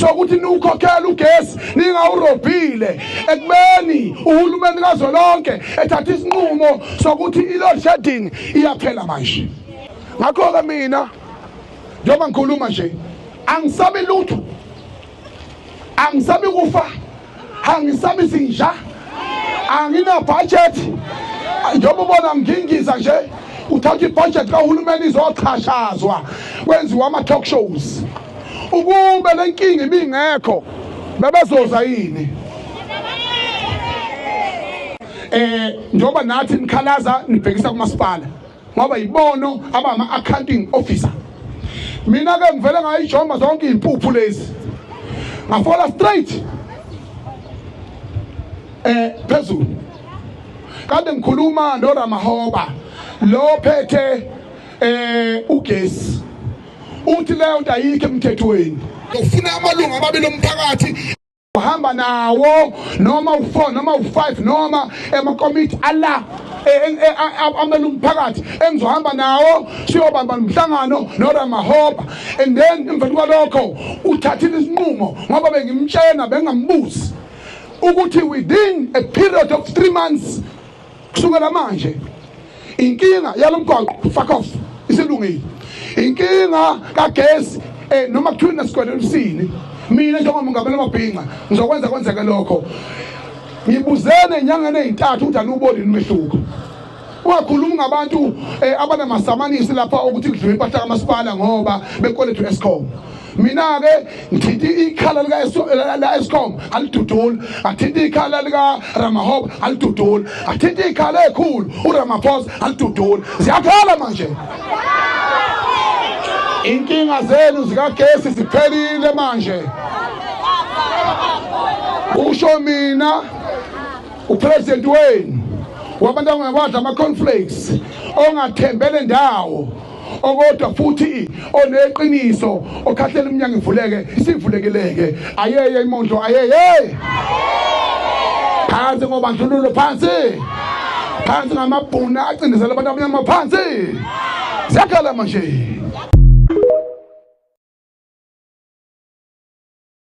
sokuthi niwukhokhela ugesi ningawurobhile ekubeni uhulumeni kazwelonke ethatha isinqumo sokuthi i-load shedding iyaphela manje ngakho-ke mina njengoba ngikhuluma nje angisabi lutho angisabi kufa angisabisi nja angina budget njengoba ubona ngingiza nje uthatha ibudget kahulumeni izochashazwa kwenziwa ama-talk shows ukube le nkinga ibingekho bebezoza yini eh njengoba nathi nikhalaza nibhekisa kumasipala ngoba yibono abama accounting officer mina ke ngivele ngayijomba zonke izimpuphu lezi ngafola straight eh phezulu kade ngikhuluma no Ramahoba lo phethe eh ugesi uthi leyo nto ayikho emthethweni ufuna amalungu ababili omphakathi uhamba nawo noma u4 noma u5 noma emakomiti ala e, e, e, amele umphakathi engizohamba nawo siyobamba nomhlangano noRamahoba and then emva kwalokho uthathile isinqumo ngoba bengimtshena bengambuzi ukuthi within a period of 3 months kusukela manje inkinga yalomgwaqo fuck off isilungile inkinga kagesi eh noma kuthiwa nesikwele emsini mina njengoba ngamele mabhinqa ngizokwenza kwenzeke lokho ngibuzene enyangeni ezintathu ukuthi anubolini umehluko ungakhulumi ngabantu eh, abanamasamanisi lapha ukuthi kudliwe impahla kamasipala ngoba bekweletu escom mina ke ngithinta ikhala lika la Eskom alidudula athinta ikhala lika Ramahob alidudula athinta ikhala ekhulu uRamaphosa alidudula ziyakhala manje inkinga zenu zikagesi ziphelile manje usho mina upresident wenu wabantu angakwadla ama-conflakes ongathembele ndawo okodwa futhi oneqiniso okhahlela umnyango ivuleke sivulekeleke ayeye imondlo ayeye phansi ngobandlululo phansi phansi ngamabhuna acindezela abantu abanyama phansi siyakhala manje